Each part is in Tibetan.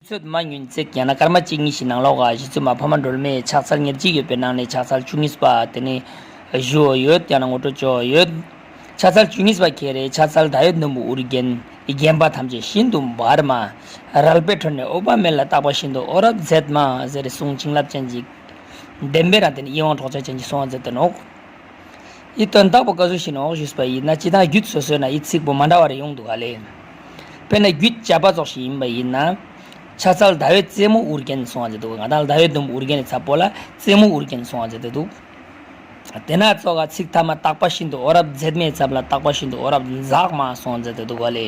ཚོད་མ་ཉུལ་བརྩེགས་བརྒྱ་ན་སྐར་མ་གཅིག་གཉིས་ཤིག་ནང་ལོགས་གཞི་ཚོད་མ་ཕ་མ་སྒྲོལ་མས་ཕྱག་འཚལ་ཉེར་གཅིག་ཡོད་པའི་ནང་ནས་ཕྱག་འཚལ་བཅུ་གཉིས་པ་དེ་ནི། བཞུའོ་ཡོད་ཀྱང་ན་ངོ་སྤྲོད་བཅུའོ་ཡོད། ཕྱག་འཚལ་བཅུ་གཉིས་པ་ཁྱེད་རེ་ཕྱག་འཚལ་ད་ཡོད་ནུབ་མོ་འུར་རྒྱན། རྒྱན་པ་ཐམས་ཅད་ཤིན་ཏུ་འབར་མ། རལ་པའི་ཁྲོད་ནས་ཨུ་པ་མེ་ལ་བཏགས་པ་བཞིན་དུ་ཨོ་རབ་མཛད་མ་ཟེར་གསུང་བྱིན་རླབས་ཅན་གྱིས། བདེན་པའི་རང་སྟེ་ནི་ཡིད་དབང་འཕྲོག་བྱ་ཅན་གྱི་གསུང་བ་མཛད་དོ་ནོ། ཡིད་དོན་བདག་པོ་བཀའ་ཟུར་ཞིག་ནས་འོག་བཞུགས་པ་ཡིན་ན་སྤྱི་སྟངས་རྒྱུད་སོ་སོའི་ནང་ཡིད་ཚིག་པོ་མ་འདྲ་བ་རེ་ཡོང་འདུག་ག་ལེ། དཔེར་ན་རྒྱུད་བཅས་པ་རྫོགས་ཤིག་ཡིན་པ་ཡིན་ན། ཕྱག་ཚལ་ཟླ་བའི་རྩེ་མོ་དབུར་བརྒྱན་སོང་བ་ཟེར་འདུག་ང་དང་ཟླ་བའི་ཟླུམ་དབུར་བརྒྱན་ནས་ཚ་པོ་ལ་རྩེ་མོ་དབུར་བརྒྱན་སོང་བ་ཟེར་འདུག་དེ་ན་གཙོ་ཁ་ཚིག་མཐའ་མ་བཏགས་པ་བཞིན་དུ་ཨོ་རབ་མཛེས་མའི་ཚབ་ལ་བཏགས་པ་བཞིན་དུ་ཨོ་རབ་འཛག་མ་སོང་ཟེར་འདུག་ག་ལེ།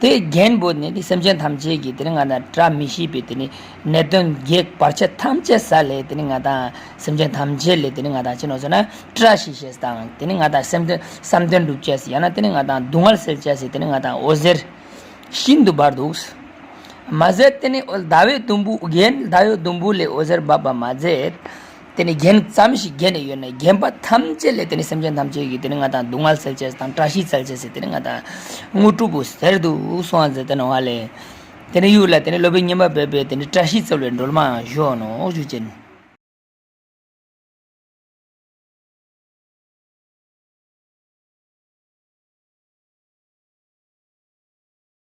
དེ་རྒྱན་བུ་ནི་དེ་སེམས་ཅན་ཐམས་ཅད་ཀྱི་དེ་ནི་ང་དང་བཀྲ་མི་ཤིས་པའི་དེ་ནི་ནད་གདོན་བགེགས་བར་ཆད་ཐམས་ཅད་ས་ལས་དེ་ནི་ང་དང་སེམས་ཅན་ཐམས་ཅད་ལས་དེ་ནི་ང་དང་ཅི་ནོ་ཟེར་ན་བཀྲ་ཤིས་ཤེས་དང་དེ་ནི་ང་དང་སེམས་དོན་བསམ་དོན་འགྲུབ་བྱེད་ཡང་ན་དེ་ནི་ང་དང་སྡུག་བསྔལ་སེལ་བྱེད་དེ་ནི་ང་དང་འོད་ཟེར་ཤིན་ཏུ་འབར་འདུག། མ་ཟད་དེ་ནི་ཟླ་བའི་དུམ་བུ་རྒྱན་ཟླ་བའི་དུམ་བུ་ལས་འོད་ཟེར་འབབ་པར་མ་ཟད། དེ་ནི་རྒྱན་ཙམ་ཞིག་བརྒྱན་ནས་ཡོད་ནས་རྒྱན་པ་ཐམས་ཅད་ལས་དེ་ནི་སེམས་ཅན་ཐམས་ཅད་ཀྱི་དེ་ནི་ང་དང་སྡུག་བསྔལ་སེལ་བྱེད་དང་བཀྲ་ཤིས་སྩལ་བྱེད་ཟེར་དེ་ནི་ང་དང། དངོས་གྲུབ་བོ་ཟེར་དུ་གསུང་བ་མཛད་དེ་ནོ་བ་ལས། དེ་ནི་གཡུག་ལ་དེ་ནི་སློབ་པའི་སྙེམས་པ་འབེབས་པས་དེ་ནི་བཀྲ་ཤིས་སྩོལ་བའི་འགྲོལ་མའང་གཞོག་ནོ་གཞུག་བྱེད་ནི།